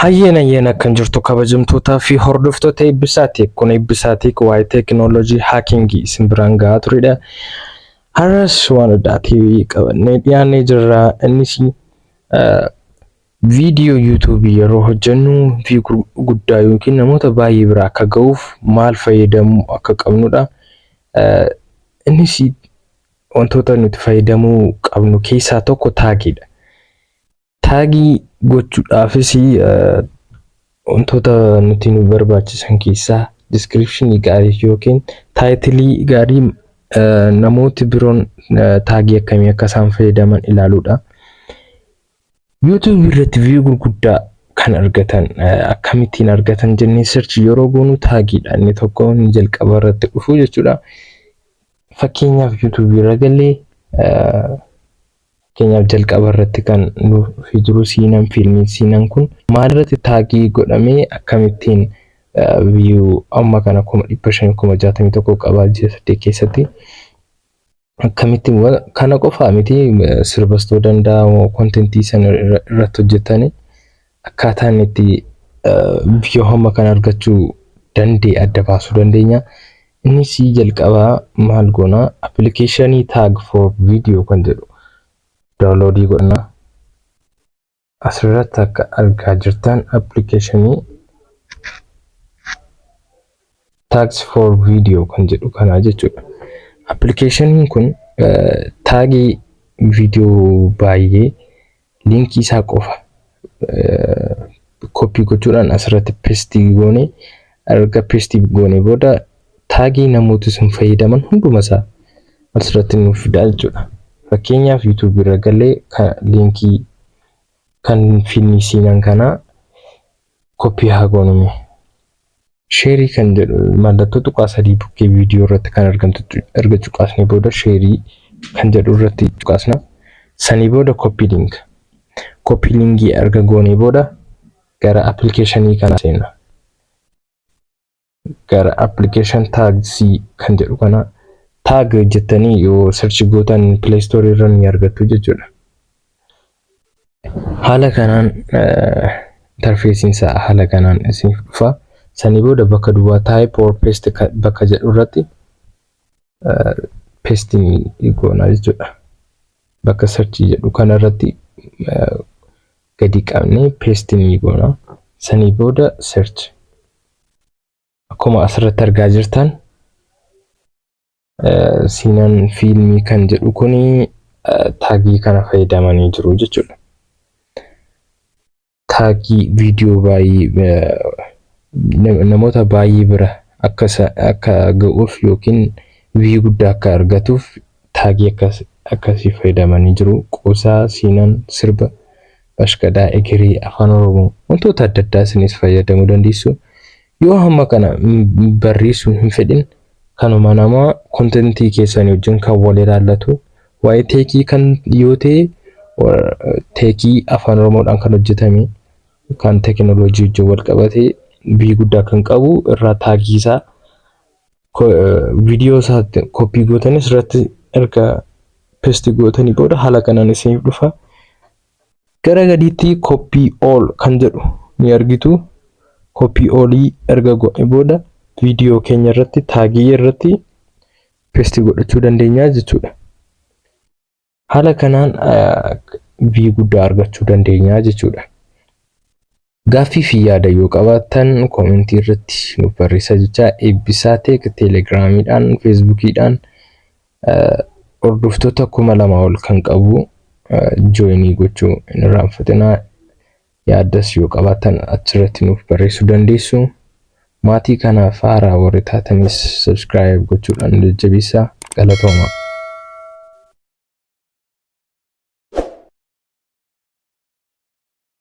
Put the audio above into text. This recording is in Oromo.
Hayyeen hayyeen akkan jirtu kabajamtootaa fi hordoftoota eebbisaatiik kun eebbisaatiik waa'ee teekinooloojii haakingii isin biraan ga'aa turedha. Har'as waan addaa ta'e qabannee dhiyaannee jirra. Innis Viidiyoo YouTube yeroo hojjennu view guddaa yookiin namoota baay'ee bira akka ga'uuf maal fayyadamuu akka qabnudha. Innis wantoota nuti fayyadamuu qabnu keessaa tokko taagiidha. Taagii gochuudhaafis wantoota nuti nu barbaachisan keessaa diskiripshinii gaarii yookiin taayitilii gaarii namooti biroon taagii akkamii akka isaan fayyadaman ilaaluudha. YouTube irratti view gurguddaa kan argatan akkamittiin argatan jennee search yeroo goonu taagiidha inni tokko inni jalqaba irratti dhufu jechuudha. Fakkeenyaaf YouTube irra galee fakkeenyaaf jalqaba irratti kan nuuf jiru siinan fiilmii siinan kun maalirratti taagii godhamee akkamittiin view amma kana kuma dhibba shan kuma jaatamii tokko qabaa ji'a saddeet keessatti akkamitti wa- kana qofaa miti eh, sirbas ta'uu danda'a moo kontentii san irra- irratti hojjetanii akkaataa inni itti eh, view hamma kan argachuu danda'e adda baasuu dandeenya. Innis jalqabaa maal goona appilikeeshinii tag for video kan jedhu daawunloodii godhana. Asirratti akka argaa jirtan appilikeeshinii Tags for Video kan jedhu kanaa jechuudha. Appilikeeshiniin kun taagii viidiyoo baay'ee liinkii isaa qofa koppii gochuudhaan asirratti pestii goone erga pestii goone booda Taagii namooti sun fayyadaman hunduma isaa asirratti nuuf fidaa jechuudha. Fakkeenyaaf YouTube irra galee ka liinkii kan finni siinan kanaa koppii haa goonume. Sheerii kan jedhu mallattoo tuqaa sadii bukkee viidiyoo irratti kan argamtu erga cuqaasnee booda sheerii kan jedhu irratti cuqaasna. Sanii booda koppii liinka. Koppii liinkii erga goonee booda gara appilikeeshinii kanaa seenna. gara application tags kan jedhu kana tag jettanii yoo search gootan play store irra ni argattu jechuudha. Haala kanaan interfeesiin isaa haala kanaan isiniif dhufa. Sanii booda bakka duwwaa type or paste bakka jedhu irratti paste ni goona jechuudha. Bakka search jedhu kana irratti gadi qabnee paste ni goona. Sanii booda search akkuma asirratti argaa jirtan siinan fiilmii kan jedhu kun taagii kana fayyadamanii jiru jechuudha. Taagii viidiyoo baay'ee namoota baay'ee bira akka akka ga'uuf yookiin viyuu guddaa akka argatuuf taagii akkasii fayyadamanii jiru. Qoosaa, siinan, sirba bashkadaa egerii afaan oromoo wantoota adda addaa isinis fayyadamu dandeessu yoo hamma kana barreessu hin fedhin kanuma nama kontentii keessanii wajjin kan wal ilaallatu waa'ee teekii kan yoo ta'e teekii afaan oromoodhaan kan hojjetame kan teekinooloojii wajjin wal qabatee bii guddaa kan qabu irraa taagiisaa viidiyoo isaatti koppii gootanii asirratti erga pesti gootanii booda haala kanaan isiniif dhufa. Gara gadiitti koppii ool kan jedhu ni argitu. Koppii oolii erga goone booda viidiyoo keenya irratti taagii irratti pesti godhachuu dandeenya jechuudha. Haala kanaan V guddaa argachuu dandeenya jechuudha. Gaaffii fi yaada yoo qabaattan koomentii irratti nuuf barreessaa jechaa eebbisaa teek teelegiraamiidhaan feesbuukiidhaan hordoftoota kuma lama ol kan qabu jooyinii gochuu hin irraanfatinaa. Yaaddas yoo qabaattan achirratti nuuf barreessuu dandeessu. Maatii kanaaf haaraa warri taatanis subscribe gochuudhaan nu jajjabeessaa. Galatoomaa!